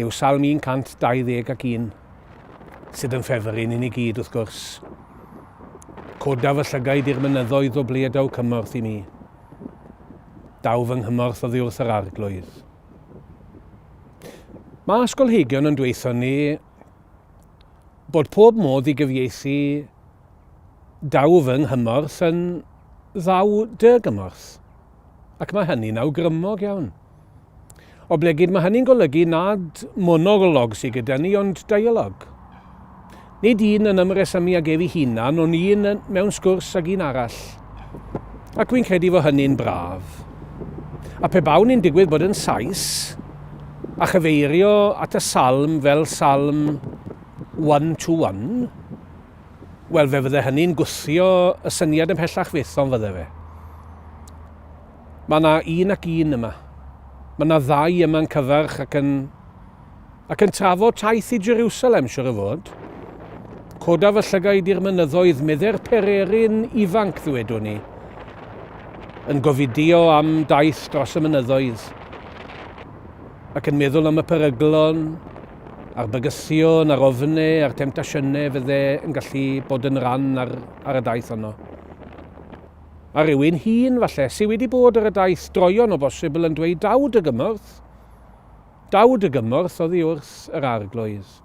yw Salm 120 ac un sydd yn ffefr i ni ni gyd, wrth gwrs. Coda fy llygaid i'r mynyddoedd o ble y daw cymorth i mi. Daw fy nghymorth oddi wrth yr arglwydd. Mae ysgolheigion yn dweithio ni bod pob modd i gyfieithu daw fy nghymorth yn ddaw dy gymorth. ac mae hynny'n awgrymog iawn. Oblegid, mae hynny'n golygu nad monolog sydd gyda ni, ond dialog. Nid un yn ymresymu ag efi hunan, ond un mewn sgwrs ag un arall. Ac wy'n credu fod hynny'n braf. A pe bawn i'n digwydd bod yn Sais, a chyfeirio at y salm fel salm one-to-one, Wel, fe fydde hynny'n gwthio y syniad ymhellach fyth, ond fydde fe. Mae yna un ac un yma. Mae yna ddau yma'n cyfarch ac yn, ac yn trafod taith i Jerusalem, siwr o fod. Coda fy llygaid i'r mynyddoedd, medde'r pererin ifanc, ddwedwn ni, yn gofidio am daith dros y mynyddoedd, ac yn meddwl am y peryglon a'r bygythion a'r ofne a'r temtasiynau fydde yn gallu bod yn ran ar, ar y daith honno. A rhywun hun, falle, sydd wedi bod ar y daith droion o bosibl yn dweud daw dy gymorth. Daw dy gymorth oddi wrth yr arglwydd.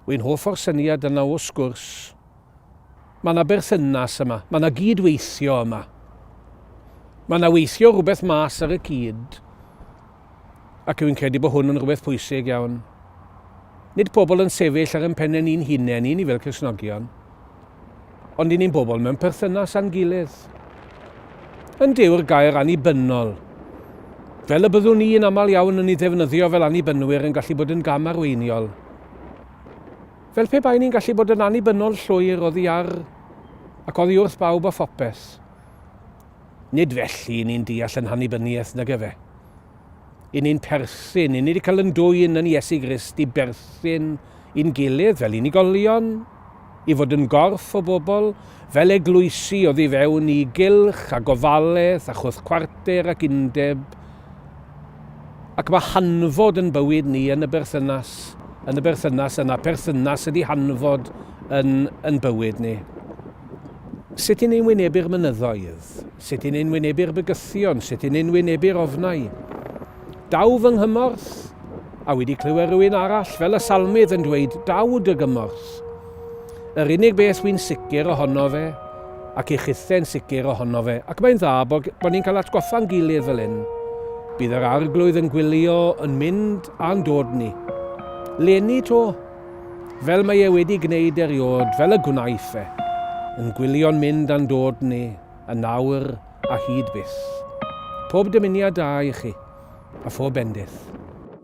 Wy'n hoff o'r syniad yna o sgwrs. Mae yna berthynas yma, mae yna gydweithio yma. Mae yna weithio rhywbeth mas ar y cyd. ac rwy'n credu bod hwn yn rhywbeth pwysig iawn, nid pobl yn sefyll ar ein pennau ni'n hunain i ni fel Cristnogion, ond i ni'n bobl mewn perthynas â'n gilydd. Yn dyw'r gair annibynnol, fel y byddwn ni yn aml iawn yn ei ddefnyddio fel annibynwyr yn gallu bod yn gam arweiniol. Fel pe bai ni'n gallu bod yn annibynnol llwyr oddi ar ac oddi wrth bawb a phopeth. Nid felly i ni'n deall yn hannibyniaeth, nag efe. I ni'n perthyn, i ni wedi cael yn dwyn yn Iesu Grist i berthyn i'n gilydd fel unigolion, i fod yn gorff o bobl, fel eglwysi oddi fewn i gylch a gofalaeth a chwrthcwarter ac undeb, Ac mae hanfod yn bywyd ni yn y berthynas, yn y berthynas yna, perthynas ydi hanfod yn yn bywyd ni. Sut yn ein wynebu'r mynyddoedd? Sut yn ein wynebu'r bygythion? Sut yn ein wynebu'r ofnau? Daw fy nghymorth! A wedi clywed rhywun arall, fel y salmydd, yn dweud, Daw dy gymorth! Yr unig beth wy'n sicr ohono fe, ac i chithau'n sicr ohono fe, ac mae'n dda bod, bod ni'n cael atgoffa'n gilydd fel hyn, bydd yr arglwydd yn gwylio yn mynd a'n dod ni. Leni to, fel mae e wedi gwneud eriod, fel y gwnaeth e, yn gwylio'n mynd a'n dod ni, yn nawr a hyd byth. Pob dymuniad da i chi, a phob bendith.